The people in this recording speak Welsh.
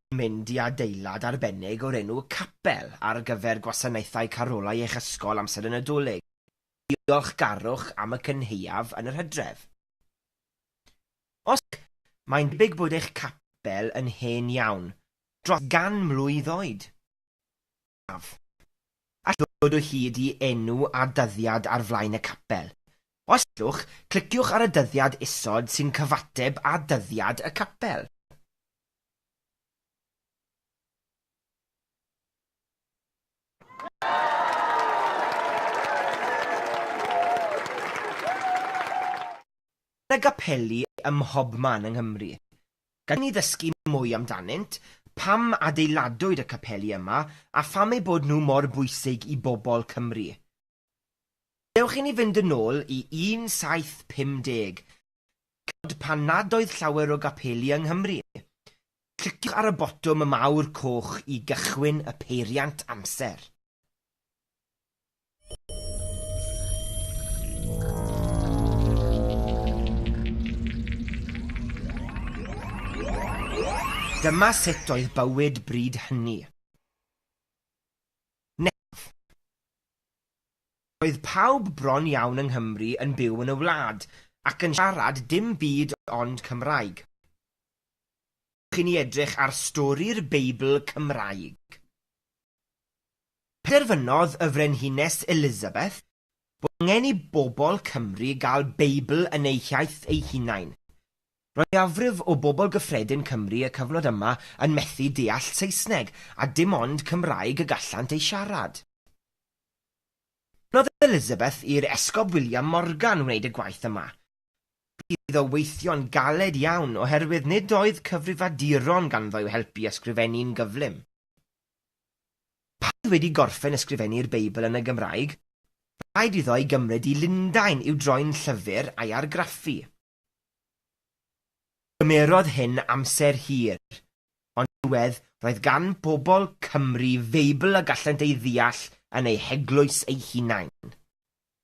Rydym yn mynd i adeilad arbennig o'r enw 'Capel' ar gyfer gwasanaethau carolau eich ysgol amser y Nadolig. Diolchgarwch am y cynhaeaf yn yr hydref. Os ydych, mae'n debyg bod eich capel yn hen iawn, dros gan mlwydd oed. haf. Allwch ddod o hyd i enw a dyddiad ar flaen y capel. Os allwch, cliciwch ar y dyddiad isod sy'n cyfateb â dyddiad y capel. Mae 'na gapeli ym mhobman yng Nghymru. Gallwn ni ddysgu mwy amdanynt, pam adeiladwyd y capeli yma a pham eu bod nhw mor bwysig i bobl Cymru. Dewch i ni fynd yn ôl i 1750, cyfnod pan nad oedd llawer o gapeli yng Nghymru. Cliciwch ar y botwm y mawr coch i gychwyn y peiriant amser. Dyma sut oedd bywyd bryd hynny. Nef. Oedd pawb bron iawn yng Nghymru yn byw yn y wlad ac yn siarad dim byd ond Cymraeg. Chi'n ni edrych ar stori'r Beibl Cymraeg. Penderfynodd y Frenhines Elizabeth bod angen i bobl Cymru gael Beibl yn eu hiaith eu hunain. Roedd mwyafrif o bobl gyffredin Cymru y cyfnod yma yn methu deall Saesneg, a dim ond Cymraeg y gallant ei siarad. Dymunodd Elizabeth i'r Esgob William Morgan wneud y gwaith yma. Bu iddo weithio'n galed iawn oherwydd nid oedd cyfrifaduron ganddo i'w helpu i ysgrifennu'n gyflym. Pan oedd wedi gorffen ysgrifennu'r Beibl yn y Gymraeg, bu raid iddo ei gymryd i Lundain i'w droi'n llyfr a'i argraffu. Cymerodd hyn amser hir, ond yn diwedd roedd gan bobl Cymru Feibl y gallent ei ddeall yn eu heglwys eu hunain.